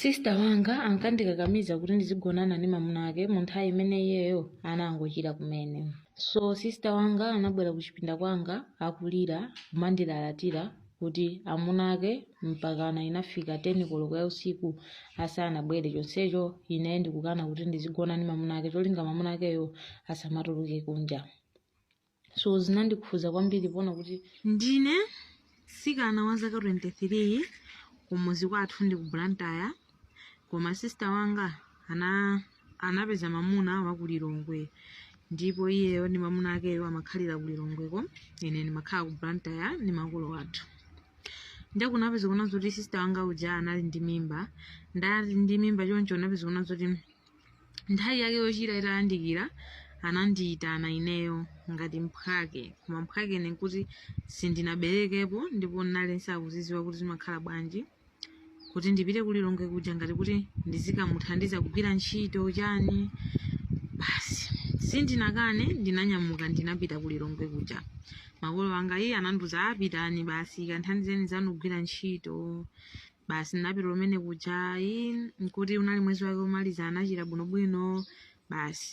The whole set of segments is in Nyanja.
Sister wanga ankandikakamiza kuti ndizigonana ndi mamuna ake mu nthawi imene iyeyo anangochira kumene. So sister wanga anabwera kuchipinda kwanga akulira kumandilalatira kuti amuna ake mpakana inafika 10 koloko ya usiku asanabwere chonsecho ine ndikukana kuti ndizigona ndi mamuna ake cholinga mamuna akeyo asamatuluke kunja. so zinandikhudza kwambiri poona kuti ndine mtsikana wa zaka 23 kumuzi kwathu ndi ku blantyre koma sister wanga anapeza mamuna wa ku lilongwe ndipo iyeyo ndi mamuna akeyo amakhalira ku lilongweko ine ndimakhala ku blantyre ndi makolo athu nde kunapeza kuna zoti sister wanga uja anali ndi mimba nde ali ndi mimba choncho kunapeza kuna zoti Nthawi yake yochira itayandikira, anandiyitana ineyo ngati mphwake. Koma mphwake ine n'kuti sindinaberekepo ndipo ndinali ndisakuzidziwa kuti zimakhala bwanji, kuti ndipite ku Lilongwe kuja ngati kuti ndizikamuthandiza kugwira ntchito chani. Basi sindinakane, ndinanyamuka ndinapita ku Lilongwe kuja. Makolo anga iye anandiuza, "Ah, pitani basi, kamthandizeni nzanu kugwira ntchito." basi ndinapita kumene kuja ayi nkuti unali mwezi wake womaliza anachira bwinobwino basi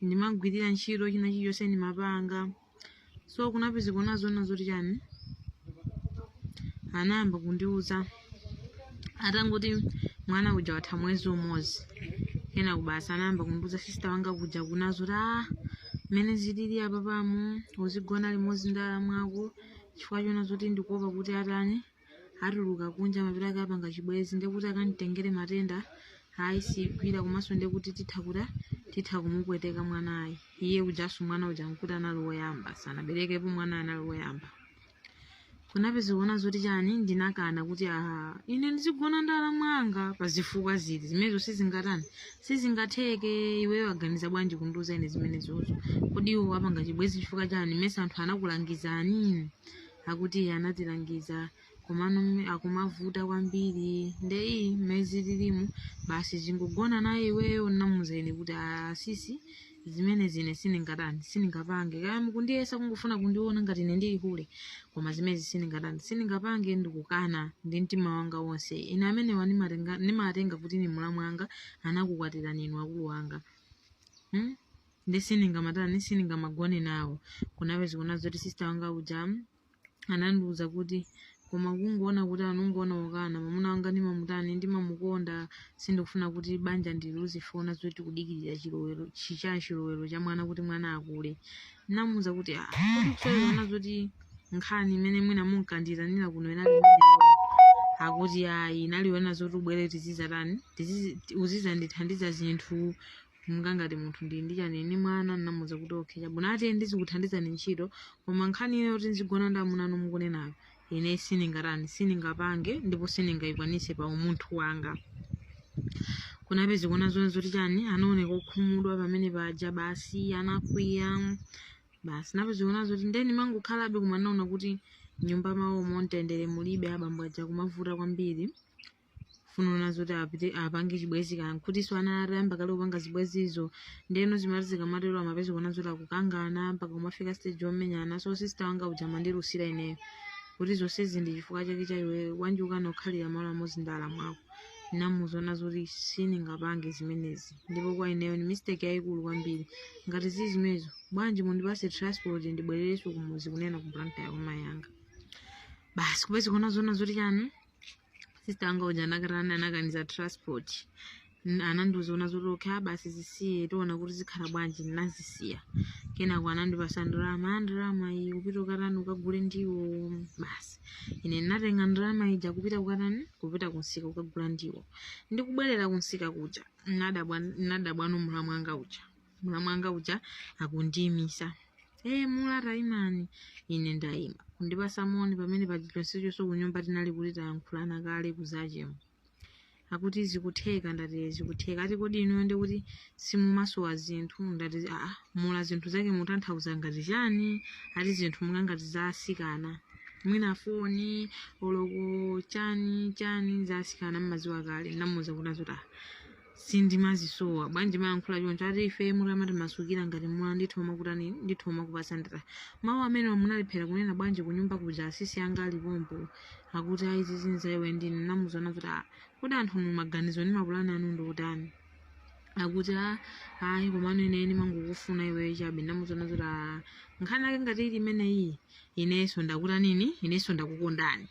ndimagwirira ntchito china chilichonse ndimapanga so kunapezeka kuna zoti chani anayamba kundiuza atangoti mwana uja watha mwezi umodzi kenako basi anayamba kundiuza sister wanga uja kuna zoti ah mmene zilili apapamu uzigona limodzi ndi alamu ako chifukwa chona zoti ndikuopa kuti atani atuluka kunja mapeto ake apanga chibwenzi ndiye kuti akanditengere matenda ayi sigwira komanso ndiye kuti titha kuti titha kumupweteka mwanayi iye ujanso mwana uja nkuti anali woyamba sanaberekepo mwana anali woyamba kunapeza kuona zoti chani ndinakana kuti aha ine ndizigona ndi alamu anga pa zifukwa ziti zimenezo sizingatani sizingatheke iweyo waganiza bwanji kundiuza ine zimenezozo kodi iwo apanga chibwenzi chifukwa chani mesa anthu anakulangizani akuti iye anatilangiza komano mme- akumavuta kwambiri nde ii mmene zililimu basi zingogona naye iweyo ndinamuuza ine kuti asisi zimenezi ine sindingatani sindingapange kaya mukundiyesa kungofuna kundiona ngati ine ndili hule koma zimenezi sindingatani sindingapange ndikukana ndi mtima wanga wonse ine amenewa ndimatenga- ndimatenga kuti ni mulamu wanga anakukwatirani inu akulu wanga hmm? ndi sindingamatani sindingamagone nawo kunapeze kuona zoti sista wanga uja anandiuza kuti koma kungoona kuti anongoona wakana mwamuna wanga ndimamutani ndimamukonda sindikufuna kuti banja ndiluze funa zoti kudikirira chilowero chichani chilowero cha mwana kuti mwana akule namuuza kuti "Ah, kodi kusaona zoti nkhani imene mwina munkanditanira kuno inali imeneyo?" akuti ayi inaliona zoti ubwere tizizatani tizizi- uzizandithandiza zinthu monga ngati munthu ndili ndi chani ndi mwana ndinamuuza kuti okay chabwino ati ndizikuthandizani ntchito koma nkhani inoyo yoti nzigona ndi amuna anu mukunenayo ine sindingatani sindingapange ndipo sindingayikwanise pa umunthu wanga kunapeze kuona zona zoti chani anaoneka okhumudwa pamene paja basi anakwiya basi napeze kuona zoti ndeni mangokhalabe koma ndinaona kuti nyumba mawomo mtendere mulibe abambo aja kumavuta kwambiri kufuna ona zoti apite apange chibwezi kaya nkutinso anali atayamba kale kupanga zibwezizo ndeno zimati zikamatero amapeza kuona zoti akukangana mpaka kumafika stage yomenyana so sista wanga uja amandilusira ineyo kuti zonsezi ndi chifukwa chake cha iwe bwanji ukukana kukhalira malo amodzi ndi alamu ako ndinamuuza ona zoti sindingapange zimenezi ndipo kwa ineyo ndi mistake yayikulu kwambiri ngati zili zimenezo bwanji mundipase transport ndibwererenso kumuzi kunena ku blantyre kwa mayi anga basi kupeza kuona zoona zoti chani sista anga uja anakatani anakaniza transport N- anandiuza zoti okay basi zisiye tiona kuti zikhala bwanji ndinazisiya kenako anandipasa ndalama ndalama iyi kupita ukatani ukagule ndiwo basi ine ndinatenga ndalama ija kupita ukatani kupita kunsika ukagula ndiwo ndikubwerera kunsika kuja nadabwa nadabwano mulamu wanga uja mulamu wanga uja akundiyimisa e mula taimani ine ndayima kundipasa moni pamene paja chonsechoso kunyumba tinali kuti tayankhulana kale kuzacha m'mawa akuti zikutheka ndati zikutheka ati kodi inuyo ndi kuti simumasowa zinthu ndati aa mula zinthu zake mutanthauza ngati chani ati zinthu monga ngati zasikana mwina foni oloko chani chani zasikana mmaziwa kale namuza kuti azoti ah sindimazisowa bwanji mayankhula choncho ati ife mutamatimasukira ngati mwana nditha kumakutani nditha kumakupasa ndati mawu amene munalephera kunena bwanji kunyumba kuja asisi anga ali pompo akuti ayi zinazo iwe ndine namuzana kuti "Ah, kodi anthu inu maganizo ndi mapulani anu ndi otani akuti "Ah, ayi komano ine ndimangokufuna iwe chabe namuzana kuti "Ah, nkhani yake ngati ili imeneyi inenso ndakutani inenso ndakukondani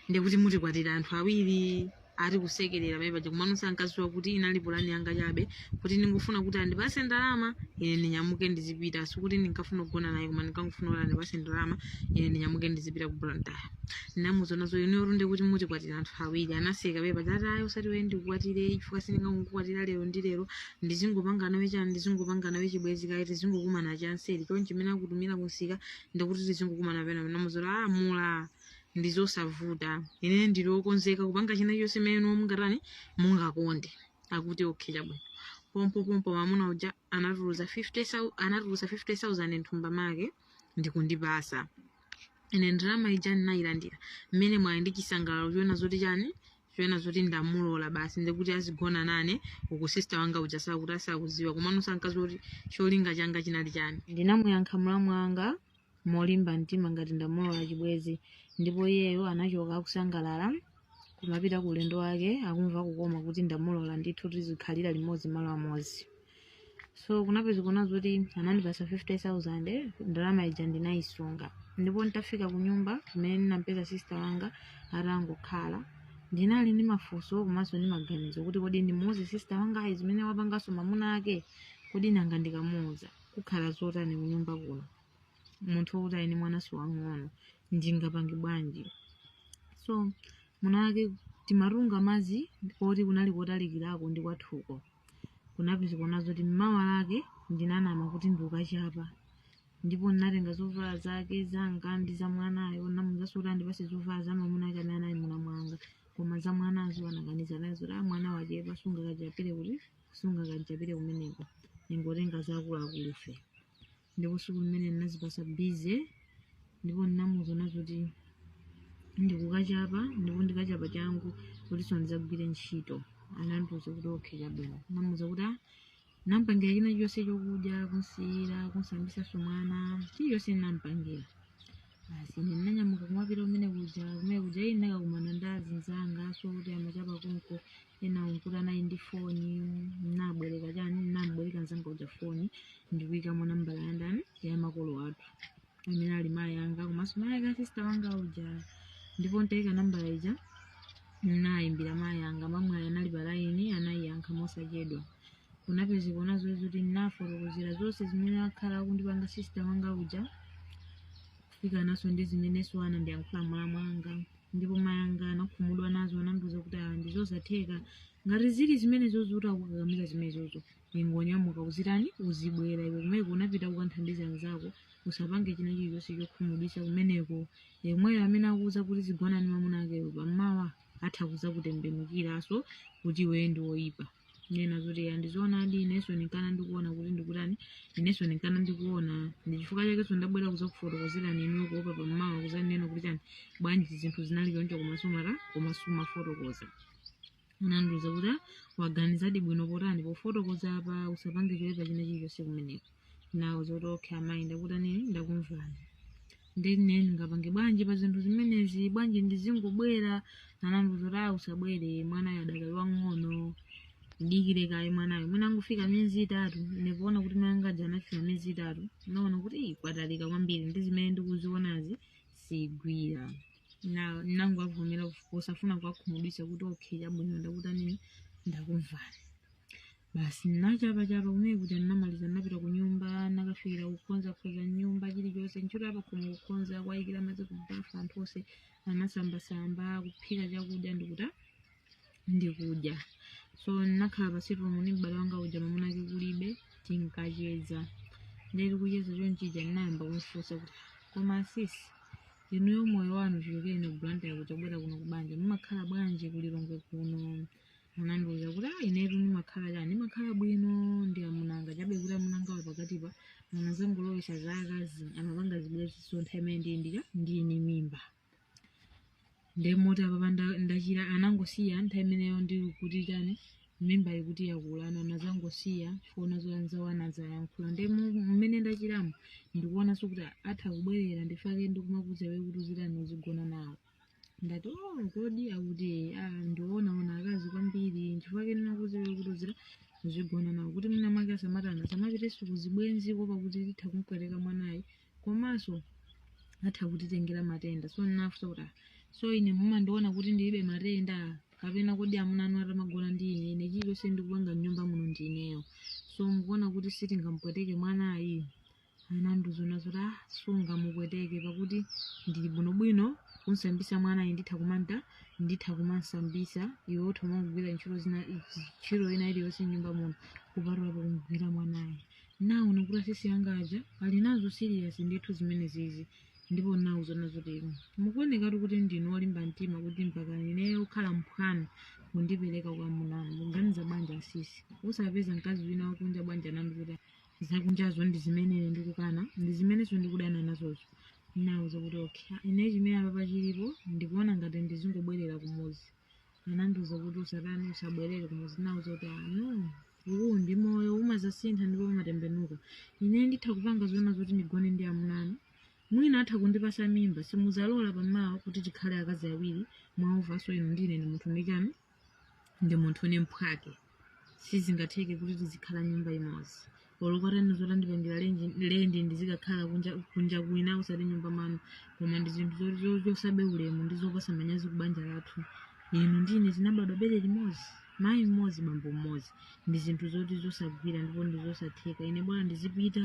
ndikuti mutikwatire anthu awiri ati kusekerera pamene paja kumano sankadziwa kuti inali pulani yanga chabe kuti ndingofuna kuti andipase ndalama ine ndinyamuke ndizipita sikuti ndinkafuna kugona naye koma ndinkangofuna kuti andipase ndalama ine ndinyamuke ndizipita ku blantyre ndinamuuza zoti ine bwinde kuti mutikwatira anthu awiri anaseka pamene paja ati ayi usati wee ndikukwatire chifukwa sindingakukwatira lero ndi lero ndizingopanga nawe chani ndizingopanga nawe chibwezi kaye tizingokumana chanseri chonchi chimene akutumira kunsika ndikuti tizingokumana pena ndinamuuza ah mula ndi zosavuta ine ndili okonzeka kupanga china chonse mmene inuyo mungatani mungakonde akuti okay chabwino pompo pompo mamuna uja anatuluza 50 sau- anatuluza 50000 nthumba make ndikundipasa ine ndalama ija ndinayilandira mwa nsangala ndi chisangalalo choona zoti chani choona zoti ndamulola basi ndikuti azigona nane uku sista wanga uja sakuti asakuziwa komano sankaziwa kuti cholinga changa chinali chani ndinamuyankha mlamu wanga molimba mtima ngati ndamulola chibwezi ndipo iyeyo anachoka akusangalala kumapita ku ulendo wake akumva kukoma kuti ndamulola ndithu tizikhalira limodzi malo amodzi so kunapezeka zoti anandipasa 50000 ndalama ija ndinayisunga ndipo nditafika ku nyumba kumene ndinampeza sister wanga atangokhala ndinali ndi mafunso komanso ndi maganizo kuti kodi ndimuuze sister wangayi zimene wapanganso mamuna ake kodi nanga ndikamuuza kukhala zotani kunyumba kuno munthu wokuti ali ndi mwana so wang'ono ndingapange bwanji so mene muja timatunga madzi koti kunali kotalikirako ndi kwathuko kunapezeka zoti mmawa wake ndinanama kuti ndikachapa ndipo ndinatenga zovala zake zanga ndi za mwanayo namuuzaso kuti andipase zovala za mamuna ake amene anali mlamu wanga koma za mwanazo anakaniza nazo zoti a mwana wachepa sungakachapire kuti sungakachapire kumeneko ingotenga zaakuluakulufe ndipo siku limene ndinazipasa bize ndipo ndinamuuza zoti ndikukachapa ndipo ndikachapa changu kutiso ndidzagwire ntchito anandiuza kuti okhe chabwino namuuza kuti "Ah, nampangira china chonse chokudya kunsiyira kunsambisa so mwana chilichonse nampangira basi ine ndinanyamuka kumapita kumene kuja kumene kuja ine ndinakakumana ndi azinzanga so oti amachapa konko ena unkuti anali ndi foni ndinabwereka chani ndinambwereka mzanga uja foni ndikuikamo nambala ya ndani ya makolo athu amene ali mayi anga komanso mayi ake asista wanga uja ndipo ntaika nambala ija nayimbira mayi anga mwamwayi anali palaini anayiyankha mosachedwa kunapezekano zoti ndinafotokozera zonse zimene akhala akundipanga sisita wanga uja kufika naso ndi zimenenso anandiyankhula mlamu wanga ndipo mayi anga anakhumudwa nazo anandiuza kuti ah ndizosatheka ngati zili zimenezo zoti akukakamiza zimenezozo ingonyamuka uzitani uzibwera iwe kumeko unapita kukanthandiza anzako usapange china chilichonse chokhumudwitsa kumeneko yemweyo amene akuuza kuti uzigonana ndi mamuna akeyo pammawa atha kuzakutembenukiraso kuti iweyo ndi woyipa nena zoti ya ndizoonadi inenso ndinkana ndikuona kuti ndikutani inenso ndinkana ndikuona ndi chifukwa chakenso ndabwera kuzakufotokozerani inuyo kuopa pammawa kuzanena kuti chani bwanji zinthu zinali choncho koma sumata koma sumafotokoza anandiuza kuti waganizadi bwino potani pofotokoza apa usapange choipa china chilichonse kumeneko nawo zoti okay amayi ndakutani ndakumvani nde ine ndingapange bwanji pa zinthu zimenezi bwanji ndizingobwera anandiuza zoti ayi usabwere mwanayo adakali wang'ono dikira kaye mwanayo mwina angofika miyezi itatu ndikuona kuti mwana wanga uja anafika miyezi itatu naona kuti "Ih, kwatalika kwambiri ndi zimene ndikuzionazi sizigwira nangowavomera osafuna kuwakhumudwisa kuti okay chabwino ndakutanini ndakumvani basi nachapachapa kumene kuja ndinamaliza ndinapita ku nyumba nakafikira kukonzakonza nyumba chilichonse ntchito yapakhomo kukonza kuwayikira madzi kubafa anthu onse anasambasamba kuphika chakudya ndikuta ndikudya so ndinakhala pasi pomwe ndi m'bale wanga uja mamuna ake kulibe tinkacheza ndili kucheza chonchija ndinayamba kumfunsa kuti koma asisi inuyo moyo wanu chichokereni ku blantyre kuzabwera kuno kubanja mumakhala bwanji kulilongwe kuno anandiuza kuti ah inetu ndimakhala chani ndimakhala bwino ndi amunanga chabe kuti amunangawa pakatipa anazangolowesa za akazi amapanga zibwezi so nthawi imene ndili ndija ndili ndi mimba nde moti apapa nda- ndachira anangosiya nthawi imeneyo ndili ndi chani mimba ikuti yakula ano anazangosiya chifukwa zoti anzawo anadzayankhula nde mu- mmene ndachiramo ndikuonanso kuti atha kubwerera ndi chifukwa chake ndikumakuuza iwe kuti uzitani uzigona nawo ndati oh kodi akuti ah, ndi wonawona akazi kwambiri nchifukwa chake ndinakuuza kuti uzigona nawo kuti mwina mwake asamatana asamapitenso kuzibwenzi kuopa kuti atha kumpweteka mwanayi komanso atha kutitengera matenda so ndinafusa kuti ah, so ine mumandiona kuti ndilibe matenda kapena kodi amuna anu atamagona ndi ine ine chilichonse ndikupanga mnyumba muno ndi ineyo so mukuona kuti sitingampweteke mwanayi ananduza zona zoti ah sungamupweteke pakuti ndili bwinobwino kumsambisa mwanayi nditha kumanta nditha kumamsambisa iwe utha umagwira ntchito zina ntchito ina iliyonse nyumba muno kupatulapo kumgwira mwanayo naona kuti asisi anga aja ali nazo serious ndithu zimenezizi ndipo nawauza zona zoti mukuonekatu kuti ndinu olimba mtima kuti mpaka ineyo kukhala mphwanu kundipereka kwa amuna anu mukuganiza banja asisi osapeza mkazi wina wakunja banja nanu kuti zakunjazo ndi zimene ndikukana ndi zimenenso ndikudana nazozo nawauza kuti okay ine chimene apapa chilipo ndikuona ngati ndizingobwerera kumuzi anandiuza kuti usatani usabwerere kumuzi nawauza kuti ah no uwu ndi moyo umazasintha ndipo umatembenuka ine nditha kupanga zona zoti ndigone ndi amuna anu mwina atha kundipasa mimba simuzalola pamawa kuti tikhale akazi awiri mwamva so inu ndine ndi munthu ndi nkhani ndi munthu ndi mphwake sizingatheke kuti tizikhala nyumba imodzi olo kotani zotandipangira lenji- lendi ndizikakhala kunja kunja kwina usati nyumba mwanu koma ndi zinthu zo- zo- zopsabe ulemu ndi zopasa manyazi ku banja lathu inu ndi ine tinabadwa bere limodzi mayi mmodzi bambo mmodzi ndi zinthu zoti zosagwira ndipo ndi zosatheka ine bola ndizipita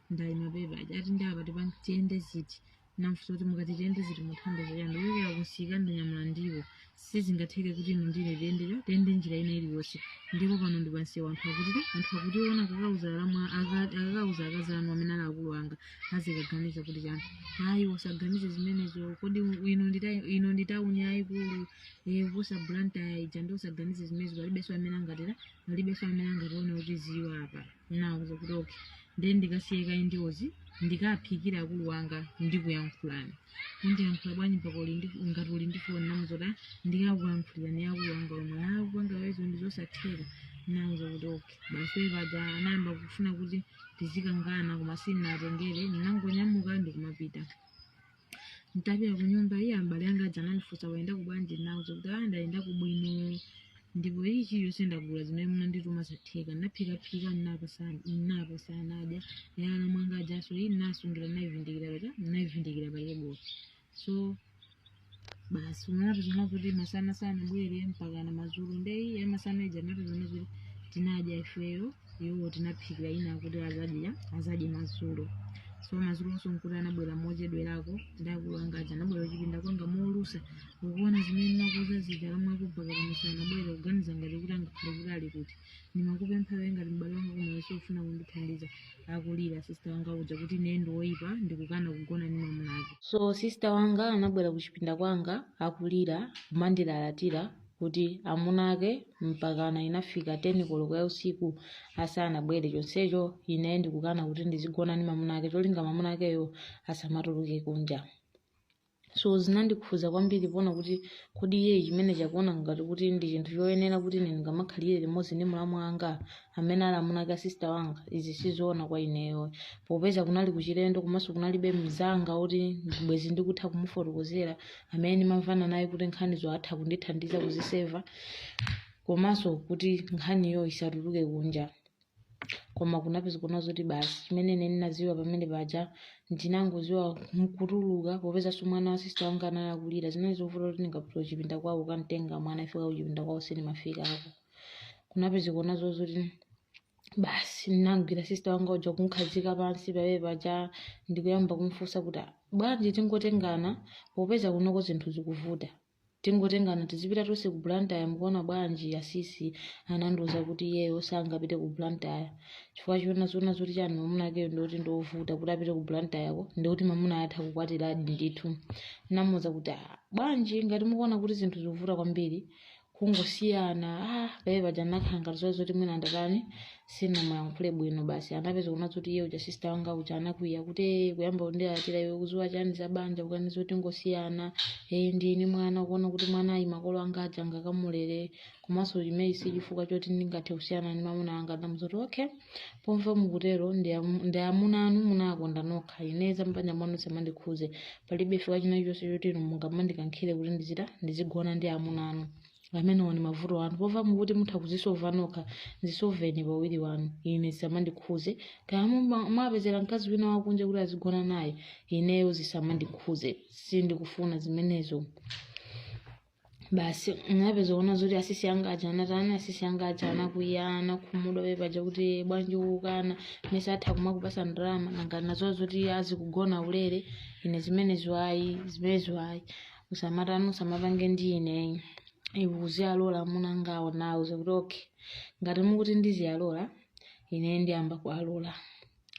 ndaima paja ati ndi apa tipange tiyende city namfusa kuti mukati tiyende city mukutanthauza chani ndikuchokera kunsika ndanyamula ndiwo sizingatheke kuti inu ndi ine tiyendecho tiyende njira ina iliyonse ndipo pano ndi pansewa anthu akati- anthu akationa akakauza alamu aka- akakauza akazi anu amene ali akulu anga azikaganiza kuti chani ayi usaganize zimenezo kodi ino ndi ta- ino ndi tauni yayikulu eh, kuposa blantyre ija ndi usaganize zimenezo palibenso amene angatera palibenso amene angationa kutiziwa apa nawauza kuti okay ndiye ndikasiye kaye ndiwozi ndikaphikire akulu wanga ndikuyankhulani undiyankhula bwanji mpaka uli ndi- ngati uli ndi foni namuza kuti "Ah, ndikakuyankhulirani akulu wanga omwe akulu wanga omwewo ndi zosatheka nawauza kuti okay basi iwo paja anayamba kufuna kuti tizikangana koma sindinatengere ndinangonyamuka ndikumapita Nditapita ku nyumba eee abale anga aja anandifunsa wayendako bwanji ndinawauza kuti ah ndayendako bwino ndipo china chilichonse ndagula zimene munandituma zatheka ndinaphikaphika ndinawapasa ndinawapasa anadya ya alamu anga ajanso iyi ndinasungira ndinayivindikira paja ndinayivindikira pa tebulo so basi ndinapeza kuti masana sanabwere mpakana mazulo ndiye ya masana ija napezana kuti tinadya ifeyo iwo tinawaphikira ina kuti azadya azadye madzulo so madzulonso nkuti anabwera mochedwerako nde akulu anga aja anabwera kuchipinda kwanga molusa ukuona zimene nimakuuza zija alamu ako mpaka pano sanabwere kuganiza ngati kuti angakhale kuti ali kuti ndimakupempha iwe ngati m'bale wanga koma iwe sufuna kundithandiza akulira sista wanga uja kuti ine ndi woyipa ndikukana kugona ndi mwamuna wake so sista wanga anabwera kuchipinda kwanga akulira kumandilalatira kuti amuna ake mpakana inafika 10 koloko ya usiku asanabwere chonsecho ine ndikukana kuti ndizigona ndi mamuna ake cholinga mamuna akeyo asamatuluke kunja so zinandikhuza kwambiri poona kuti kodi iye chimene chakuona ngati kuti ndi chinthu choyenera kuti ine ndingamakhalire limodzi ndi mulamu wanga amene ali amuna ake asista wanga izi sizoona kwa ineyo popeza kunali kuchilendo komanso kunalibe mzanga oti bwezi ndikutha kumufotokozera amene ndimamvana naye kuti nkhanizo atha kundithandiza kuziseva komanso kuti nkhaniyo isatuluke kunja koma kunapeza kuona zoti basi chimene ine ndinaziona pamene paja ndinangoziwa nkutuluka popezanso mwana wa sista wanga anali akulira zinali zovuta kuti ndingapita kuchipinda kwawo kukamtenga mwana ife kuchipinda kwawo sindimafika apo kunapeza kuona zozoti basi ndinamgwira sista wanga uja kumkhazika pansi pamene paja ndikuyamba kumfunsa kuti "Ah, bwanji tingotengana popeza kunoko zinthu zikuvuta tingotengana tizipita tonse ku blantyre mukuona bwanji asisi anandiuza kuti iyeyo sangapite ku blantyre chifukwa choona zona zoti chani mamuna akeyo ndikuti ndiovuta kuti apite ku blantyre ko ndikuti mamuna atha kukwatiradi ndithu namuuza kuti "Ah, bwanji ngati mukuona kuti zinthu zikuvuta kwambiri kungosiyana pamene paja nakhala ngati zoa zoti mwina ndatani sinamuyankhule bwino basi anapeza kuona zoti iye uja sister wanga uja anakwiya kuti "Eh, kuyamba kundilalatira iwe ukuziwa chani za banja kukandiuza zoti ndingosiyana eh ndine mwana kuona kuti mwanayi makolo anga aja angakamulere komanso chimenechi si chifukwa choti ndingathe kusiyana ndi mamuna anga ndamuuza zoti okay pomva mukutero ndi am- ndi amuna anu munakonda nokha ine zam'banja mwanu zisamandikhuze palibe chifukwa china chonse choti inu mungamandikankhire kuti ndizita ndizigona ndi amuna anu amenewo ndi mavuto anu pomva mukuti mutha kuzisova nokha zisoveni pawiri wanu ine zisamandikhuze kaya muma- mwapezera mkazi wina wakunja kuti azigona naye ineyo zisamandikhuze sindikufuna zimenezo basi napeza kuona zoti asisi anga aja anatani asisi anga aja anakwiya anakhumudwa pepaja kuti bwanji ukukana mesa atha kumakupasa ndalama nanga nazo zoti azikugona ulere ine zimenezo ayi zimenezo ayi usamatani usamapange ndi ine iwe uziyalola amuna angawo nawo zakuti okay ngati mukuti ndiziyalola ine ndiyamba kuwalola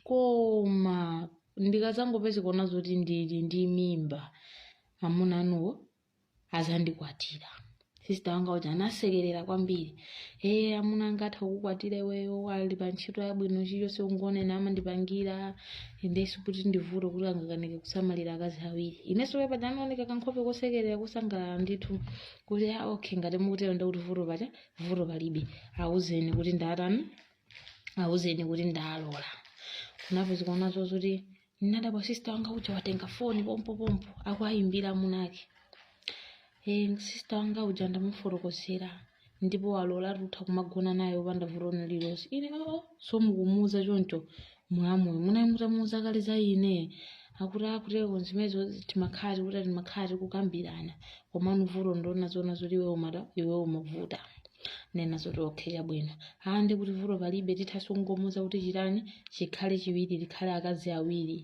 koma ndikazangopeza kuona zoti ndili ndi mimba amuna anuwo azandikwatira sista wanga uja anasekerera kwambiri ee amuna anga atha kukukwatira iweyo ali pa ntchito yabwino chilichonse ungonena amandipangira ndiyenso kuti ndivuto kuti angakanike kusamalira akazi awiri inenso pamene paja ndinaoneka kankhope kosekerera kosangalala ndithu kuti a okay ngati mukutero ndikuti vuto paja vuto palibe awuzeni kuti ndatani awuzeni kuti ndalola kunapeza kuona zozoti ndinadabwa sista wanga uja watenga foni pompopompo akuayimbira amunake e, sista wanga uja ndamufotokozera ndipo walola tutha kumagona naye opanda vuto lililonse ine oo so mukumuuza choncho mulamuyo munali mutamuuza kale za ine akuti akutero zimenezo timakhati kuti timakhati kukambirana komano vuto ndinaona zona zoti iwe umada iwe umavuta nena zoti okay chabwino aa ndi kuti vuto palibe tithaso kungomuuza kuti chitani chikhale chiwiri likhale akazi awiri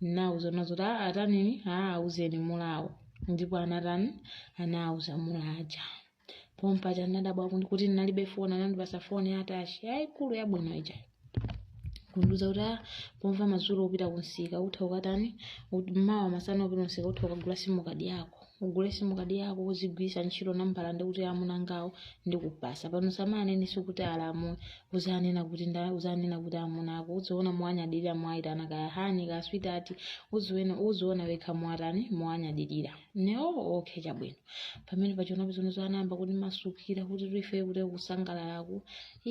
naona zoti aa atanini aa auzeni mulamuwo ndipo anatani anauza mulamuja pompaja anadabwa kuti ndinalibe foni anandipasa foni ya touch yayikulu yabwino ija kundiuza kuti ah, pompa madzulo upita kunsika utha ukatani ut- mmawa masana upita kunsika utha ukagula sim card yako ugule sim card yako uzigwirisa ntchito nambala ndikuti amunangawo ndikupasa pano usamaneneso kuti alamu uzanena kuti nda uzanena kuti amuna ako uziona muwanyadilira muwayitana kaya honey kaya sweetheart uziona uziona wekha muwatani muwanyadilira ineyo okay chabwino pamene pachona pizonzo anayamba kutimasukira kuti ife kuti kusangalalaku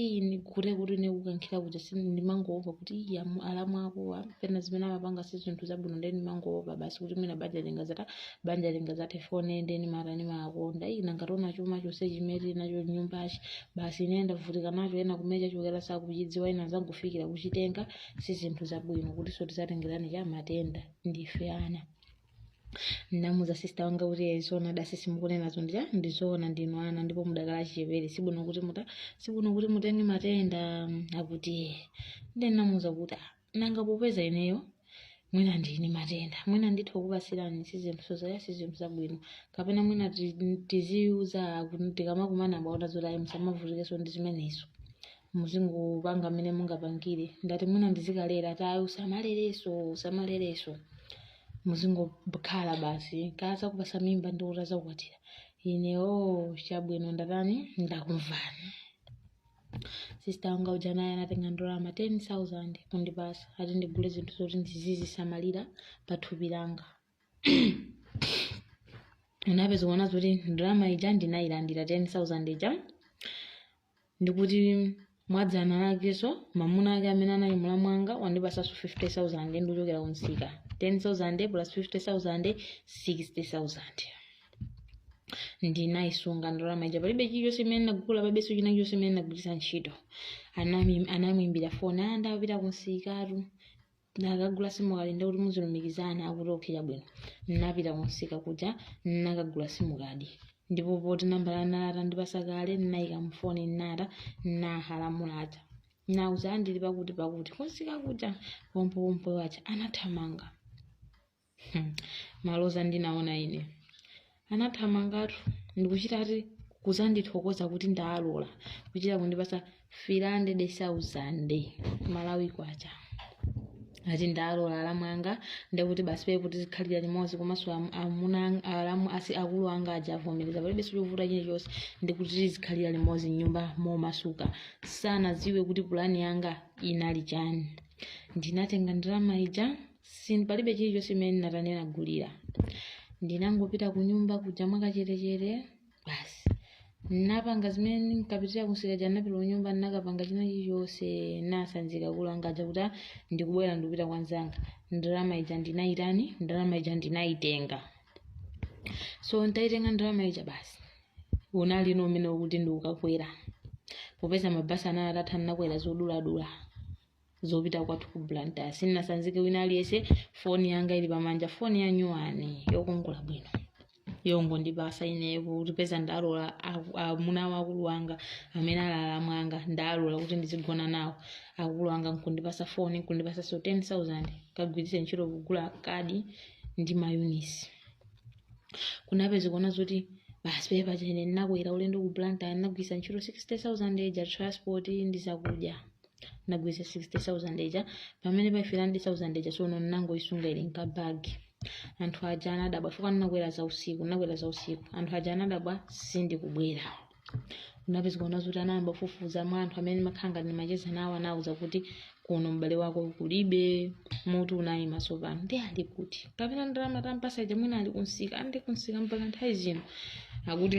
iyi ndiye kuti ine kukankhira kuja si ndimangoopa kuti iyi amu- alamu akowa penapake zimene amapanga si zinthu zabwino ndeni ndimangoopa basi kuti mwina banja lingazatha banja lingazathe fone ndeni mara ndimakonda iyi nanga taona chuma chose chimene tili nacho nyumbachi basi ine ndavutika nacho ena kumecha chochokera sakuchidziwa ena azangofikira kuchitenga si zinthu zabwino kuti so tizatengeranji matenda ndife ana namuza sista wanga kuti "Eh, zoonadi sisi mukunenazo ndija ndizoona ndinu ana ndipo mudakali achichepere sibwino kuti muta sibwino kuti mutenge matenda akuti "Eh." nde namuza kuti "Ah, nanga popeza ineyo mwina ndili ndi matenda mwina nditha kukupasirani sizinthu sozaya sizinthu zabwino kapena mwina ti- tiziuza kuti tikamakumana bwa naona zoti ayi musamavutikenso ndi zimenezo muzingopanga mmene mungapangire ndati mwina ndizikalera ati ayi usamalereso usamalereso muzingokhala basi akazakupasa mimba ndi kuti azakukwatira ine o chabwino ndatani ndakumvani sista wanga uja naye anatenga ndalama 10000 kundipasa ati ndigule zinthu zoti ndizizisamalira pa thupi langa kunapezeka kuona zoti ndalama ija ndinayilandira 10000 ija ndi kuti mwadzana lakenso mamuna ake amene anali mlamu wanga wandipasanso 50000 ndikuchokera kumsika 10000 plus 50000 60000 ndinayisunga ndalama ija palibe chilichonse imene ndagula palibeso china chilichonse imene ndagwiritsa ntchito Anami- anandiimbira foni ndapita kumsikatu nakagula simukadi ndekuti muzilumikizana akuti okay chabwino nnapita kunsika kuja nnakagula simukadi ndipo poti nambala anali atandipasa kale nnayika mufoni nnata nnahala alamu aja nauza ndili pakuti pakuti kunsika kuja pompopompo aja anathamanga Hmm, maloza ndinaona ine anathamangatu ndikuchita ati kuzandithokoza kuti ndalola kuchita kundipasa 300000 malawi kwacha ati ndalola alamu anga ndekuti basi pee kuti tizikhalira limodzi komanso am- amuna ang- alamu asi akulu anga aja avomereza palibe chovuta chilichonse ndikuti tizikhalira limodzi mnyumba momasuka sanadziwe kuti pulani yanga inali chani ndinatenga ndalama ija palibe chilichonse chimene ndinatani ndinagulira ndinangopita ku nyumba kuja mwakachetechete basi napanga zimene nkapitira kunsika napita ku nyumba nakapanga china chilichonse nasanzika akulu anga aja kuti "Ah, ndikubwera ndikupita kwa nzanga ndalama ija ndinayitani ndalama ija ndinayitenga so ntayitenga ndalama ija basi unali momwemo kuti ndikukakwera popeza mabasi anali atatha nakwera zoduladula zopita kwathu ku blantyre sindinasanzike wina aliyense foni yanga ili pamanja foni ya nyuwani yokongola bwino yongondipasa ineyo kuti peza ndalola aku- amuna a akulu anga amene ali alamu anga ndalola kuti ndizigona nawo akulu anga nkundipasa foni nkundipasa so 10000 kagwiritse ntchito kugula kadi ndi mayunisi kunapeza kuona zoti basi pepa chene ndinakwera ulendo ku blantyre ndinagwiritsa ntchito 60000 eja transport ndi zakudya nagwiritsa 60000 eja pamene pa 300000 eja sono ndinangoyisunga ili nkabagi anthu aja anadabwa chifukwa ndinakwera za usiku ndinakwera za usiku anthu aja anadabwa sindikubwera kunapeza kuona zoti anayamba kufufuza mwa anthu amene ndimakhala ngati ndimacheza nawo anawuza kuti kuno m'bale wako kulibe mutu unayima tsopano nde ali kuti kapena ndalama tampasa ija mwina ali kunsika ati kunsika mpaka nthawi zino akuti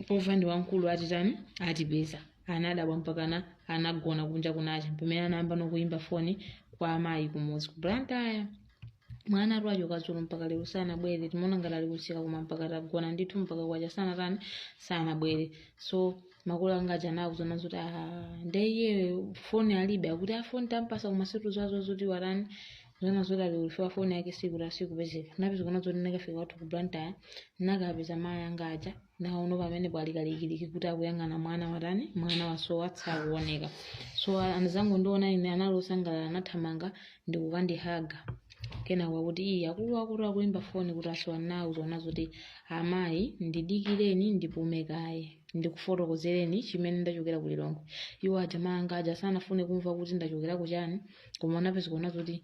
pova ndi wamkulu atitani atipeza anadabwa mpakana anagona kunja kunacha pamene anayambano kuyimba foni kwa amayi kumuzi ku blantyre mwanatu wachoka dzulo mpaka lero sanabwere timaona ngati ali kunsika koma mpaka tagona ndithu mpaka kwacha sanatani sanabwere so makolo anga aja anawauza zoti "Ah, nde iye foni alibe akuti foni tampasa koma sitikudziwaso zoti watani zona zoti ali ulifika foni yake sikula sikupezeka napeza kuona zoti nakafika kwathu ku blantyre nakapeza mayi anga aja nawono pamenepo ali kalikiliki kuti akuyang'ana mwana watani mwana wasowa sakuoneka so atangondiona ine anali osangalala anathamanga ndikukandihaga kenako akuti ii akulu akulu akuimba foni kuti wasowa nawauza zoti amayi ndidikireni ndipume kaye ndikufotokozereni chimene ndachokera ku lilongwe iwo aja mayi anga aja sanafune kumva kuti ndachokera ku chani koma anapeza kuona zoti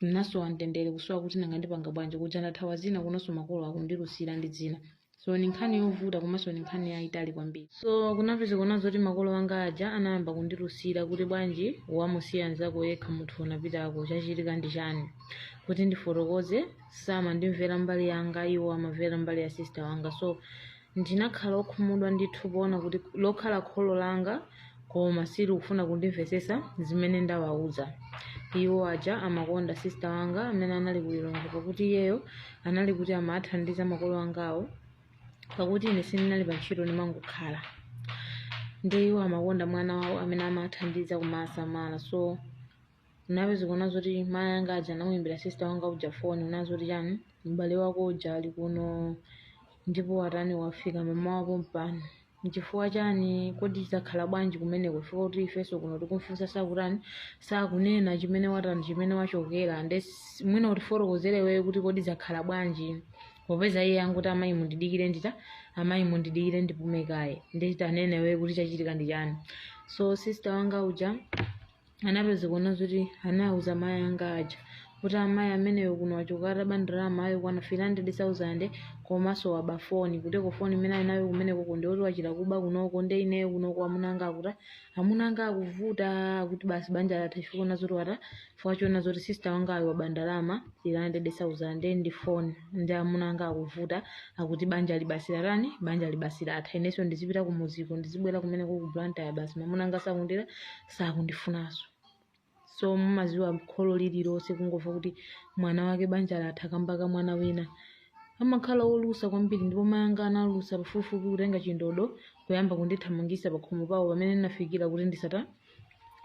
ndinasowa mtendere kusowa kuti nanga ndipanga bwanji kuja ndathawa zina kunonso makolo akundilusira ndi zina so ni nkhani yovuta komanso ni nkhani yayitali kwambiri so kunapeza kuona zoti makolo anga aja anayamba kundilusira kuti bwanji wamusiya nzako yekha munthu unapitako chachitika ndi chani kuti ndifotokoze samandimvera mbali yanga iwo amamvera mbali ya sister wanga so Ndinakhala wokhumudwa ndithu poona kuti lokhala kholo langa koma silikufuna kundimvetsetsa zimene ndawauza. Iwo aja amakonda sisita wanga amene anali ku Lilongwe pakuti iyeyo anali kuti amaathandiza makolo angawo pakuti ine sindinali pantchito ndimangokhala. Ndi iwo amakonda mwana wawo amene amaathandiza kumaasamala so napeza kuona zoti mayi anga aja anamuyimbira sista wanga uja foni una zoti chani m'bale wako uja ali kuno ndipo watani wafika mmawa wake uno nchifukwa chani kodi zakhala bwanji kumeneko chifukwa kuti ifenso kuno tikumfunsa sakutani sakunena chimene watani chimene wachokera nde s- mwina utifotokozere wewe kuti kodi zakhala bwanji popeza iye anguti amayi mundidikire ndita amayi mundidikire ndipume kaye nde tanene wewe kuti chachitika ndi chani so sister wanga uja anapeza kuona zoti anauza mayi anga aja kuti amayi ameneyo kuno wachoka ataba ndalama yokwana 300,000 komanso waba foni kutereko foni imene ali nayo kumeneko ndi yoti wachita kuba kunoko nde ineyo kunoko amuna anga akuti amuna anga akuvuta akuti basi banja latha chifukwa chona zoti wata chifukwa chona zoti sister wanga ayo waba ndalama 300,000 ndi foni ndi amuna anga akuvuta akuti banja libasira lani banja libasira atha inenso ndizipita kumudziko ndizibwera kumeneko ku blantyre basi mamuna anga sakundira sakundifunanso so mumaziwa kholo lililonse kungomva kuti mwana wake banja latha kamba ka mwana wina amakhala olusa kwambiri ndipo mayi anga analusa pafupifupi kutenga chindodo kuyamba kundithamangisa pakhomo pawo pamene ndinafikira kuti ndisata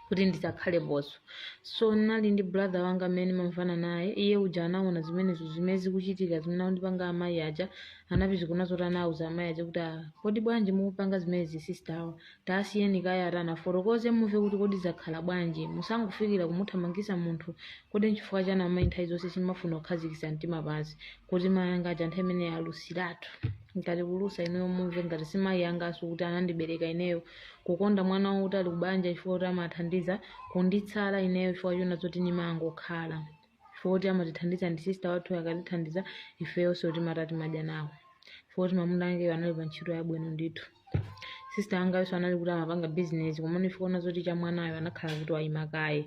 kuti ndisakhale ponso so nali ndi brother wanga amene mamvana naye iye uja anaona zimenezo zimene zikuchitika zimene akundipanga amayi aja anapeza kuona zoti anauza amayi aja kuti "Ah, kodi bwanji mukupanga zimenezi sister awa Tasiyeni kaye atani afotokoze mumve kuti kodi zakhala bwanji. Musangofikira kumuthamangisa munthu kodi nchifukwa chani amayi nthawi zonse simafuna kukhazikisa mtima pansi kuti mayi anga aja nthawi imeneyo alusilatu. Ngati kulusa ineyo mumve ngati si mayi angaso kuti anandibereka ineyo. Kukonda mwana wawo kuti ali kubanja chifukwa choti amathandiza kundisala ineyo chifukwa chona zoti nimangokhala. chifukwa kuti amatithandiza ndi sista wathu akatithandiza ifeyonso timata timadya nawo chifukwa kuti mamuna akeyo anali pa ntchito yabwino ndithu sista angayonso anali kuti amapanga bizinesi komano chifukwa chona zoti cha mwanayo anakhala kuti wayima kaye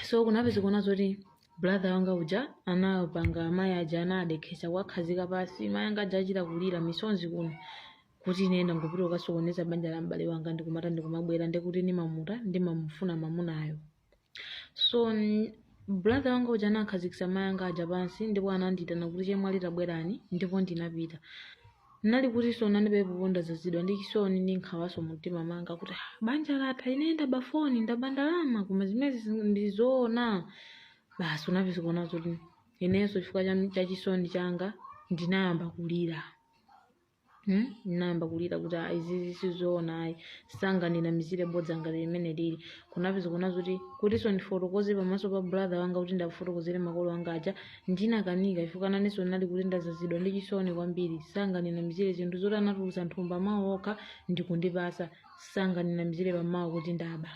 so kunapeza kuona zoti brother wanga uja anapanga amayi aja anadekhetsa kuwakhazika pansi mayi anga aja achita kulira misonzi kuno kuti ine ndangopita kukasokoneza banja la m'bale wanga ndikumata ndikumabwera ndikuti ndimamuta ndimamufuna mamunayo so mm, brother wanga uja anakhazikitsa mayi anga aja pansi ndipo anandiyitana kuti chemwali tabwerani ndipo ndinapita nali kuti so nandipepo ndazazidwa ndi chisoni ndi nkhawaso mumtima manga kuti "Ah, banja latha ine ndaba foni ndaba ndalama koma zimezi ndizoona basi kunapeza kuona zoti inenso chifukwa cha- cha chisoni changa ndinayamba kulira Hmm? nayamba kulira kuti "Ah, izizi sizoona ayi sanganinamizire bodza ngati limeneli kunapeza kuona zoti kutinso ndifotokoze pamaso pa brother wanga kuti ndiwafotokozere makolo anga aja ndinakanika chifukwa nanenso ndinali kuti ndazazidwa ndi chisoni kwambiri sanganinamizire zinthu zoti anatulutsa nthumba mawu okha ndikundipasa sanganinamizire pamawu kuti ndaba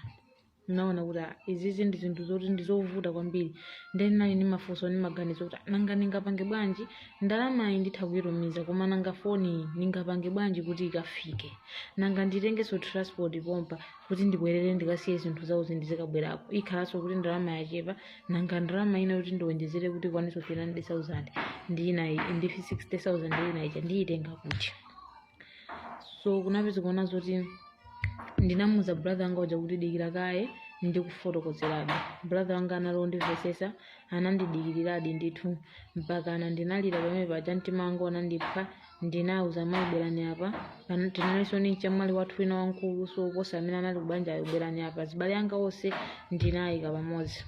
naona kuti ah, izizi ndi zinthu zoti ndi zovuta kwambiri ndiye nali ndi mafunso ndi maganizo kuti ah, nanga ndingapange bwanji ndalamayi nditha kuyitumiza koma nanga foniyi ndingapange bwanji kuti ikafike nanga nditengenso transport pompa kuti ndibwerere ndikasiye zinthu zawo zindizikabwerako ikhalanso kuti ndalama yachepa nanga ndalama ina kuti ndiwonjezere kuti ikwanitso 300,000 ndi inayi ndi 60,000 ndi inayi ndiyitenga kuti so kunapeza kuona zoti ndinamuuza brother wanga uja kuti dikira kaye ndikufotokozeradi brother anga anali wondimvesesa anandidikiliradi ndithu mpakana ndinalira pamene paja mtima wanga unandipha ndinauza mayi bwerani apa Pana- tinalinso ndi mchemwali wathu wina wamkuluso kuposa amene anali kubanjayo bwerani apa zibale anga onse ndinayika pamodzi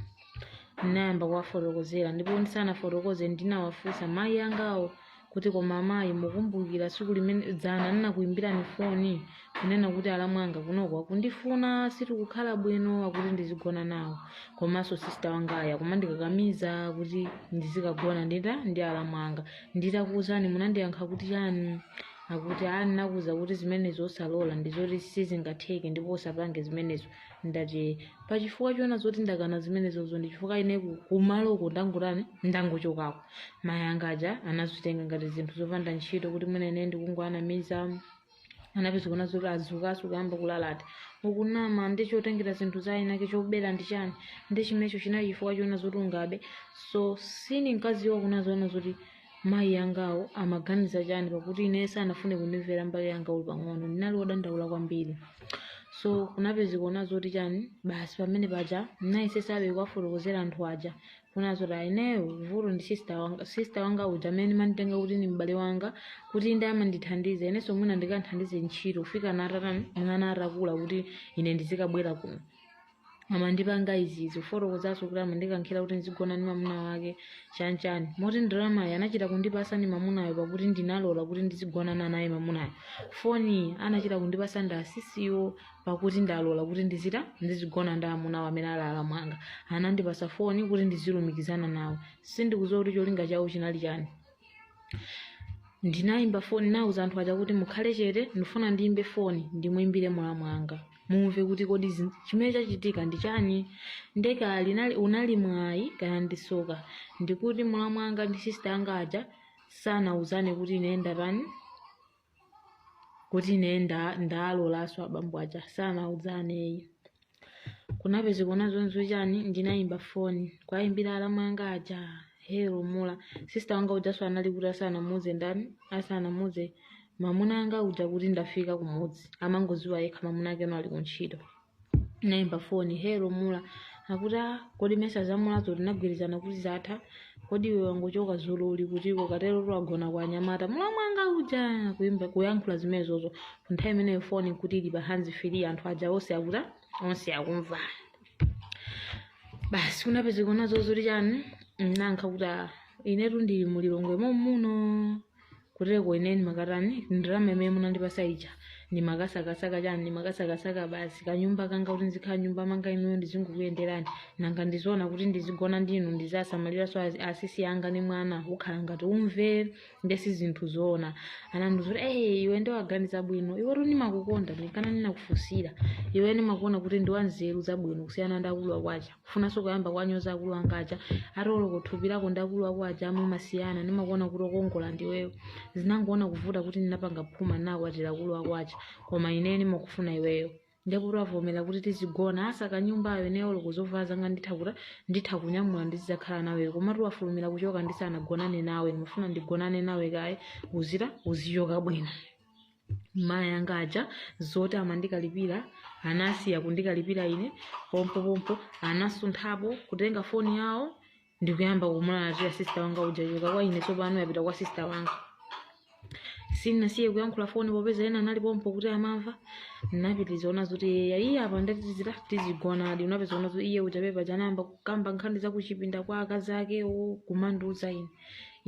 ndinayamba kuwafotokozera ndipo ndisanafotokoze ndinawafunsa mayi angawo kuti koma amayi mukumbukira tsiku limene dzana ndinakuyimbirani foni kunena kuti alamwanga kunoko akundifuna sitikukhala bwino akuti ndizigona nawo komanso sister wangaya kumandikakamiza kuti ndizikagona ndita ndi alamu anga nditakuwuzani munandiyankha kuti chani akuti a ndinakuuza kuti zimenezo osalola ndizoti sizingatheke ndipo usapange zimenezo ndati pachifukwa chonena zoti ndakana zimenezozo ndi chifukwa ine ku- kumaloko ndangotani ndangochokako mayi anga aja anazitenga ngati zinthu zopanda ntchito kuti mwina ine ndikungoanamiza anapeza kuona zoti adzukaso kuyamba kulalata ukunama ndi chotengera zinthu za inake chobera ndi chani ndi chimenecho chinali chifukwa chonena zoti ungabe so sinimkadziwa kunena zoona zoti mayi angawo amaganiza chani pakuti ine sanafune kundimvera mbali yanga olo pang'ono ndinali wodandaula kwambiri so kunapeza kuona zoti chani basi pamene paja nayesesabe kuwafotokozera anthu aja kunena zoti a ineyo vuto ndi sister wanga sister wanga uja amene ndimamutenga kuti ndi m'bale wanga kuti ndi amandithandiza inenso mwina ndikanthandize ntchito kufikana atatani mwana atakula kuti ine ndizikabwera kuno amandipanga izizi kufotokozanso kuti amandikankhira kuti ndizigona ndi mamuna wake chanchani moti ndalamayi anachita kundipasa ndi mamunayo pakuti ndinalola kuti ndizigona naye mamunayo foni anachita kundipasa ndi asisiwo pakuti ndalola kuti ndizita ndizigona ndi amuna awo amene ali alamu anga anandipasa foni kuti ndizilumikizana nawo sindikudziwa kuti cholinga chawo chinali chani ndinayimba foni nauza anthu aja kuti mukhale chete ndifuna ndiyimbe foni ndimuyimbire mulamu anga mumve kuti kodi zi- chimene chachitika ndi chani nde kaya linali unali mwayi kana ndi tsoka ndikuti mulamu anga ndi sista anga aja sanauzane kuti ine ndatani kuti ine nda- ndalolanso abambo aja sanauzane ayi kunapezeka kuona zoti chani ndinayimba foni kuwayimbira alamwanga aja hello mula sista wanga ujanso anali kuti asanamuze ndani asanamuze mamuna anga uja kuti ndafika kumudzi amangoziwa yekha mamuna ake no ali kuntchito naimba foni hello mula akuti "Ah, kodi mesa za mulazo tinagwirizana kuti zatha kodi iwe wangochoka dzulo uli kutiko kuterotu wagona kwa anyamata mulamwanga uja kuimba kuyankhula zimenezozo nthawi imeneyo foni kuti ili pa hands free anthu aja onse onse akumva basi kunapezeka nazo zoti chani nayankha kuti "Ah, inetu ndili mu Lilongwe mommuno kuteko ine ndimakatani ndalama imene munandipasa ija ndimakasakasaka chani ndimakasakasaka basi kanyumba kanga kuti ndizikhala m'nyumba mwanga inuyo ndizingokuyenderani nanga ndi zoona kuti ndizigona ndinu ndizisamaliranso asi- asisi anga ni mwana kukhala ngati umve nde si zinthu zoona anandiuza kuti ee iwe nde waganiza bwino iwetu ndimakukonda ndi nkana ndinakufunsira iwe ndimakuona kuti ndiwanzeru zabwino kusiyana ndi akulu ako aja funanso kuyamba kuwanyoza akulu anga aja ati oloko thupi lako ndi akulu ako aja mumasiyana ndimakuona kuti okongola ndiweyo zinangoona kuvuta kuti ndinapanga phuma nakwatira akulu ako aja koma ineyo ndimakufuna iweyo ndipo kuti wavomera kuti tizigonana saka nyumbayo ineyo oloko zovala zanga nditha kuti nditha kunyamula ndizidzakhala naweyo komatu wafulumira kuchoka ndisanagonane nawe ndimafuna ndigonane nawe kaye uzita uzichoka bwino mayi anga aja zoti amandikalipira anasiya kundikalipira ine pompopompo anasunthapo kutenga foni yawo ndikuyamba kumulalatira sista wanga uja yachoka kwa ine tsopano yapita kwa sista wanga sinasiye kuyankhula foni popeza ena anali pompo kuti amamva napitiriza ona zoti eya iye apa ndatitizira tizigonadi unapeza ona zoti iye uja pamene paja anayamba kukamba nkhani zakuchipinda kwa akazi akewo kumandiuza ine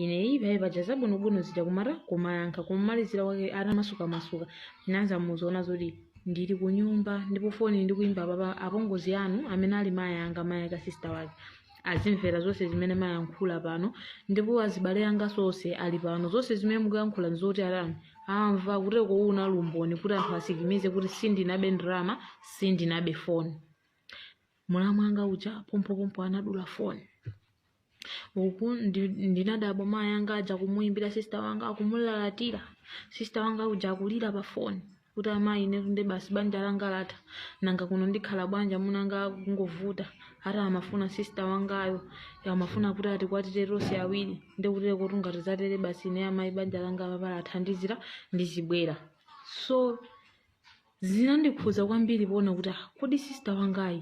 ineyi pamene paja zabwinobwino zija kumata kumayankha kumalizira kwake atamasukamasuka nauza muziona zoti ndili ku nyumba ndipo foni ndikuimba apapa apongozi anu amene ali mayi anga mayi aka sista wake azimvera zonse zimene mwayankhula pano ndipo azibale anganso onse ali pano zonse zimene mukuyankhula nzoti atani amva kuteko unali umboni kuti anthu asikimize kuti sindinabe ndalama sindinabe foni mulamu wanga uja pompopompo anadula foni uku ndi- ndinadabwa mayi anga aja kumuyimbira sista wanga akumulalatira sista wanga uja akulira pa foni kuti amayi ine tunde basi banja langa latha nanga kuno ndikhala bwanji amunanga akungovuta ati amafuna sista wangayo amafuna kuti atikwatire tonse awiri ndikutero kuti ngati zatere basi ine amayi banja langa paja latha ndizi ndizibwera so Zinandikhudza kwambiri poona kuti ah, kodi sisita wangayi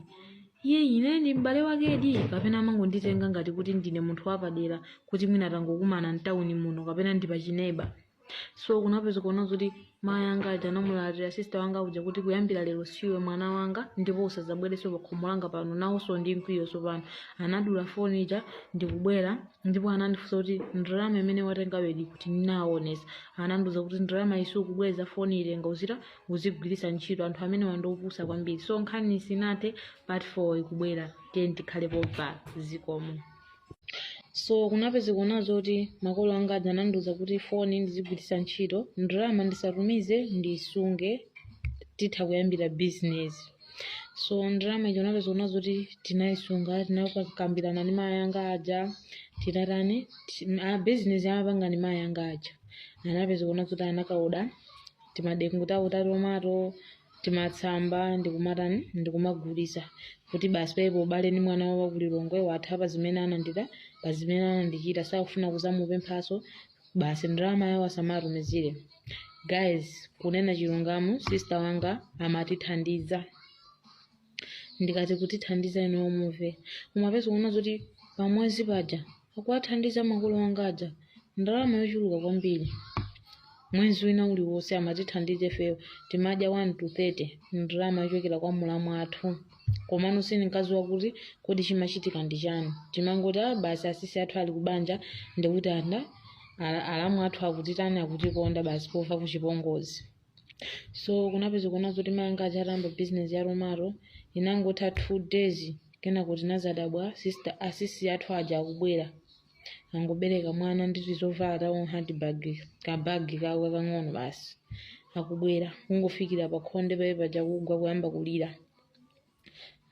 iye ine ndi m'bale wakedi kapena amangonditenga ngati kuti ndine munthu wapadera kuti mwina tangokumana mtawuni muno kapena ndi pachineiba so kunapeza kuona kuti mayi anga aja anamulalatira sisita wanga uja kuti kuyambira lero siwe mwana wanga ndipo usadzabwerenso pakhomo langa pano nawonso ndi mkwiyo tsopano anadula foni ija ndikubwera ndipo anandifunsa kuti ndalama imene watengayo ili kuti ndinaonesa anandiuza kuti ndalama isunge osabweza foni itenge uzita uzigwiritsa ntchito anthu amenewa ndi opusa kwambiri so nkhani sinathe part 4 ikubwera tiyeni tikhale pompa zikomo so kunapeza kuona zoti makolo anga aja anandiuza kuti foni ndizigwiritsa ntchito ndalama ndisatumize ndisunge titha kuyambira bizinesi so ndalama ija unapeza kuona zoti tinayisunga tinakambirana ndi mayi anga aja tinatani ti- a business amapanga ndi mayi anga aja anapeza kuona zoti anakaoda timadengu tawo ta tomato timatsamba ndikumatani ndikumagulitsa kuti basi paipo ubale ndi mwana wawo wa ku Lilongwe watha pa zimene anandida pa zimene anandichita sakufuna kuzamupemphaso basi ndalama yawo asamatumizenso guys kunena chilungamo sister wanga amatithandiza ndikati kutithandiza inuyo muve umapeza kuona zoti pamwezi paja akuwathandiza makolo anga aja ndalama yochuluka kwambiri mwezi wina uliwonse amatithandiza ifeyo timadya 1 to 30 ndalama yochokera kwa mulamu athu komano sindinkadziwa kuti kodi chimachitika ndi chani timangoti "Ah, basi asisi athu ali kubanja ndikuti anda ala- alamu athu akutitani akutikonda basi pofa kuchipongozi so kunapeza kuona zoti mayi anga aja atayamba bizinesi ya tomato inangotha two days kenako tinazadabwa sister asisi athu aja akubwera angobereka mwana ndi tizovala tawo handbag kabagi kawo kakang'ono basi akubwera kungofikira pa khonde paye paja kugwa kuyamba kulira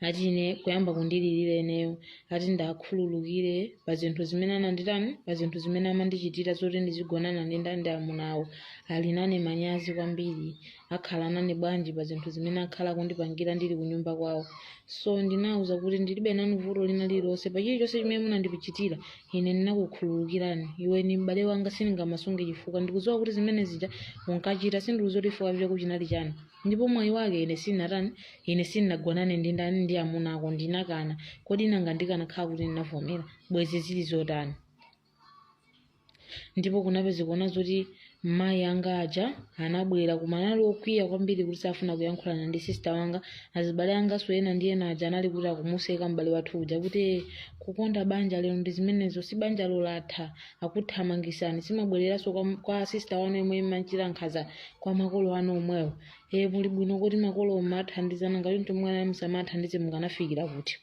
ati ine kuyamba kundilirira ineyo ati ndiwakhululukire pa zinthu zimene ananditani pa zinthu zimene amandichitira zoti ndizigonana ndi ndandi amunawo ali nawo manyazi kwambiri akhala nane bwanji pa zinthu zimene akhala akundipangira ndili kunyumba kwawo so ndinawuza kuti ndilibe nanu vuto lina lililonse pa chilichonse chimene munandichitira ine ndinakukhululukirani iwe ni m'bale wanga sindingamasunge chifukwa ndikudziwa kuti zimene zija unkachita sindikudziwa chifukwa chako chinali chani ndipo mwayi wake ine sindinatani ine sindinagonane ndi ndani ndi amuna ako ndinakana kodi nanga ndikanakhala kuti ndinavomera bwezi zili zotani ndipo kunapezeka kuona zoti mayi anga aja anabwera koma anali okwiya kwambiri kuti safuna kuyankhulana ndi sista wanga azibale anganso ena ndi ena aja anali kuti akumuseka m'bale wathu uja kuti "Eh, kukonda banja lero ndi zimenezo si banja ilo latha akuthamangisani si mwabwereranso kwa, kwa sista wanu yemwe mumachita nkhaza kwa makolo anu omwewo e muli bwino kuti makolo mathandizana ngati mtumwana musamathandize mukanafikira kuti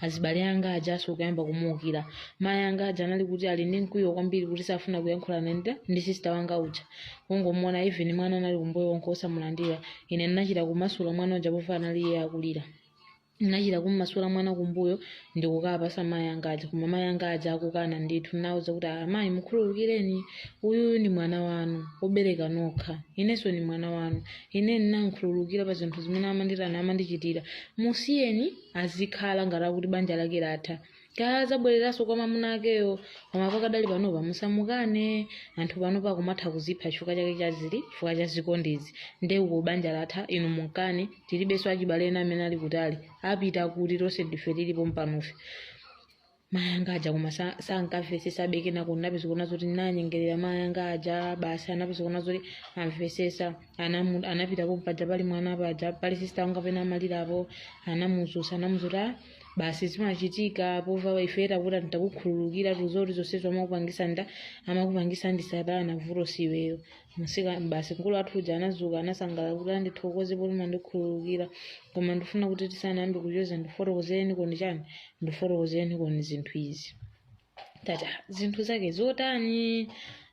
azibale anga aja so kuyamba kumuukira mayi anga aja anali kuti ali ndi mkwiyo kwambiri kuti safuna kuyankhulana ndi- ndi sista wanga uja kungomuona even mwana anali kumbuyo onse osamulandira ine ndinachita kumasula mwana uja pofa anali iye akulira ndinachita kummasula mwana kumbuyo ndikukapasa mayi anga aja koma mayi anga aja akukana ndithu ndinawauza kuti "Ah, mayi mukhululukireni uyuyu ndi mwana wanu obereka nokha inenso ndi mwana wanu Ine ndinamkhululukira pa zinthu zimene amanditani amandichitira. Musiyeni azikhala ngati kuti banja lake latha. Kaya adzabwereranso kwa mamuna akeyo, koma pakadali panopa musamukane. Anthu panopa akumatha kuzipha chifukwa chake cha zili chifukwa cha zikondizi. Nde uko banja latha, inu munkane, tilibenso achibale ena amene ali kutali. Apita kuti tonse ndife tili pompanofe. mayi anga aja koma sa- sankamvesesa bekena kuti napeza kuona zoti nanyengerera mayi anga aja basi anapeza kuona zoti amvesesa Anamu- anapitapo paja pali mwana paja pali sista anga pena amalirapo anamuzusa anamuuza kuti "Ah, basi zimachitika pova ife takuti nditakukhululukira tikudziwa zoti zonsezo amakupangisa nda amakupangisa ndi satana vuto si iweyo masika basi mkulu athu uja anazuka anasangalala kuti ah ndithokoze poti mandikhululukira koma ndifuna kuti tisanayambe kucheza ndifotokoze nkhani chani ndifotokoze nkhani zinthu izi tata zinthu zake zotani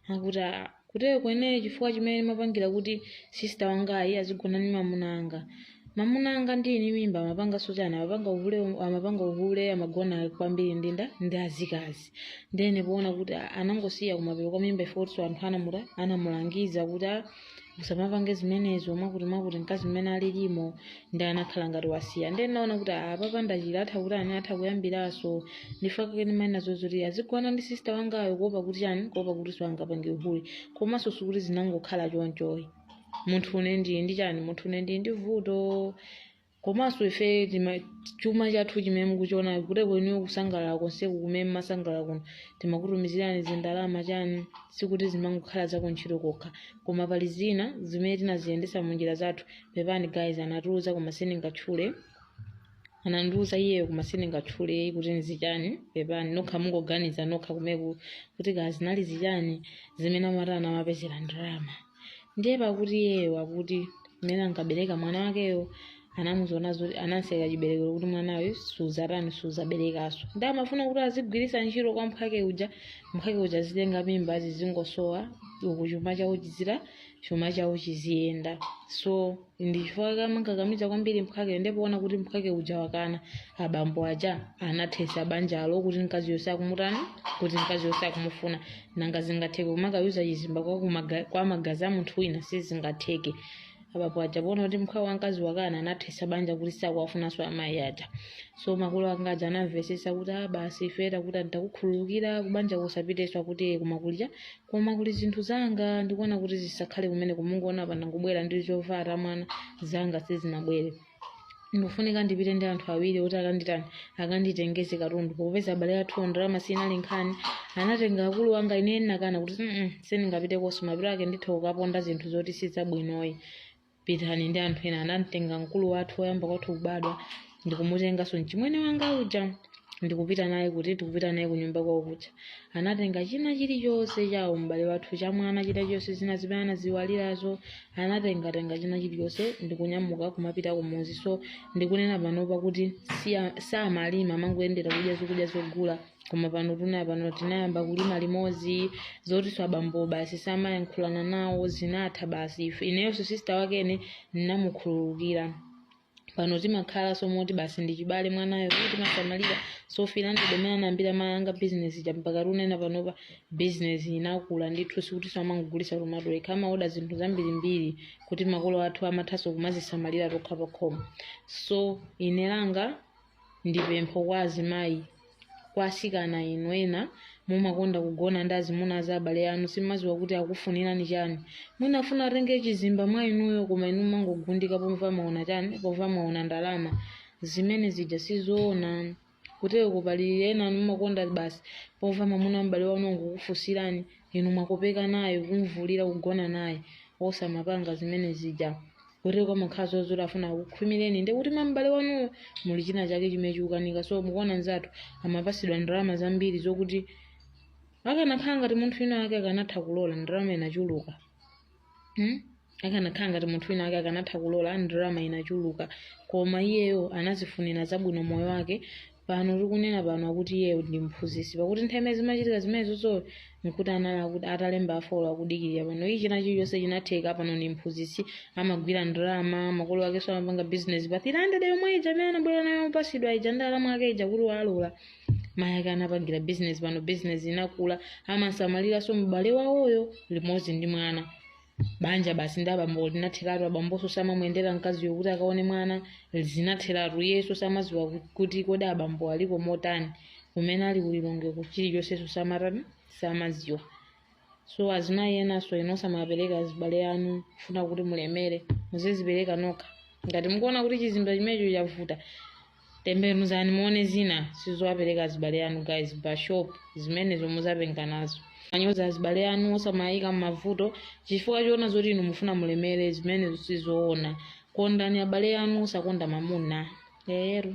akuti "Ah, kutero kweneyo chifukwa chimene ndimapangira kuti sista wangayu azigona ndi mamuna anga mamuna anga ndini mimba amapanganso chani amapanga uhule amapanga uhule amagona kwambiri ndi nda ndi azikazi ndene poona kuti a- anangosiya kumapeto kwa mimba pofa poti nso anthu anamutani anamulangiza kuti "Ah, usamapange zimenezo mwakuti mwakuti mkazi mmene alilimu ndi anakhala ngati wasiya ndene naona kuti apa ndikachira atha kuti chani atha kuyambiranso ndi chifukwa chake ndimaona zoti azigona ndi sista wangayo kuopa kuti chani kuopa kuti asapange uhule komanso sikuti zinangokhala chonchoyi munthu une ndi ndi chani munthu une ndi ndi vuto komanso ife tima- chuma chathu chimene mukuchiona kuti kwa inuyo kusangalala konseku kumene mmasangalala kuno timakutumizirani zindalama chani sikuti zimangokhala za kuntchito kokha koma pali zina zimene tinaziyendesa mu njira zathu pepani guys anatiuza koma sindingatchule anandiuza iyeyo koma sindingatchule kuti nzichani pepani nokha mungoganiza nokha kumeneko kuti kaya zinali zichani zimene amatani amapezera ndalama ndiye pakuti iyeyo akuti mmene ankabereka mwana wakeyo anamuuza zoti anamtseka chiberekero kuti mwanayo suzatani suzaberekaso nde amafuna kuti azigwiritsa ntchito kwa mphake uja mphake uja azitenga mimba zizingosowa uku chuma chawo chizira chuma chawo chiziyenda so ndichifukwa ankamukakamiza kwambiri mphwake nde poona kuti mphwake uja wakana abambo aja anathesa banjalo kuti mkaziyonso sakumutani kuti mkaziyonso sakumufuna nanga zingatheke kumakayuzer chizimba kwa, kumaga, kwa magazi a munthu wina sizingatheke abambo aja poona kuti mphwawo wamkazi wakana anathesa banja kuti sakuwafunanso amayi aja so makolo anga aja anamvesesa kuti a basi ifeyo kuti takukhululukira kubanjako usapitenso akuti kumakulira koma kuli zinthu zanga ndikuona kuti zisakhale kumeneko mungoona pano ndangobwera ndi zovala za mwana zanga sizinabwere ndikufunika ndipite ndi anthu awiri oti akanditani akanditengeze katundu popeza abale athu ndalama sinali nkhani anatenga akulu anga ine nakana kuti mm sindingapite konso mapiro ake nditha kukaponda zinthu zoti sizabwinoyi pitani ndi anthu ena anamtenga mkulu wathu woyamba kwathu kubadwa ndikumutenganso mchimwene wanga uja ndikupita naye kuti ndikupita naye kunyumba kwawo kuja anatenga china chilichonse cha m'bale wathu cha mwana china chonse zina zimene anaziiwalirazo anatengatenga china chilichonse ndikunyamuka kumapita kumuzi so ndikunena panopa kuti siya- samalima amangoyendera kudya zokudya zogula koma pano tunena pano tinayamba kulima limodzi zotiso abambo basi samayankhulana nawo zinatha basi Ife- ineyonso sisita wakene ndinamukhululukira pano timakhala somoti basi ndi chibale mwanayo kuti timasamalira so finally ndi mmene anayambira mayi anga bizinesi ija mpaka tunena panopa bizinesi inakula ndithu sikuti samangogulisa tomato ekha amaoda zinthu zambirimbiri kuti makolo athu timathanso kumazisamalira tokha pakhomo so ine langa ndi pempho kwa azimayi kwa asikana inu ena mumakonda kugona ndi azimuna a abale anu simuziwa kuti akufunirani chani mwina afuna atenge chizimba mwa inuyo koma inu mumangogundika poti mwaona chani poti mwaona ndalama zimene zija sizoona kutereko pali ena inu mumakonda basi pomva mwamuna wa m'bale wanu wangokufusirani inu mwakopeka naye kumvulira kugona naye osamapanga zimene zija kuti kwa mukhazi zoti afuna kukhwimireni ndi kuti mwa m'bale wanuwo muli china chake chimene chikukanika so mukuona nzathu amapasidwa ndalama zambiri zokuti akanakhala ngati munthu wina wake akanatha kulola ndalama inachuluka hmm? akanakhala ngati munthu wina wake akanatha kulola ndalama inachuluka koma iyeyo anazifunira zabwino moyo wake pano tikunena pano akuti iye ndi mphunzitsi pakuti nthawi imene zimachitika zimenezozo nkuti anali akuti atalemba a folo akudikirira pano china chilichonse chinatheka pano ndi mphunzitsi amagwira ndalama makolo akenso amapanga bizinesi pa 300 yomwe ija imene anabwera nayo yopasidwa ija ndi alamu ake ija kuti alole mayi ake anapangira bizinesi pano bizinesi inakula amasamaliranso m'bale wawoyo limodzi ndi mwana banja basi ndi abambo linatheratu abamboso samamuyendera mkaziyo kuti akaone mwana zinatheratu iyeso samaziwa ku- kuti kodi abambo aliko motani kumene ali ku Lilongwe chilichonseso samatani samaziwa so azimayi enaso inu osamapereka azibale anu kufuna kuti mulemere muzizipereka nokha ngati mukuona kuti chizimba chimenecho chavuta Tembenuzani muone zina sizowapereka azibale anu guys mbashopu zimenezo muzapenga nazo. Mayoza azibale anu osamayika mmavuto chifukwa choona zoti inu mufuna mulemere zimenezo sizoona. Kondani abale anu osakonda mamuna. Eyeru.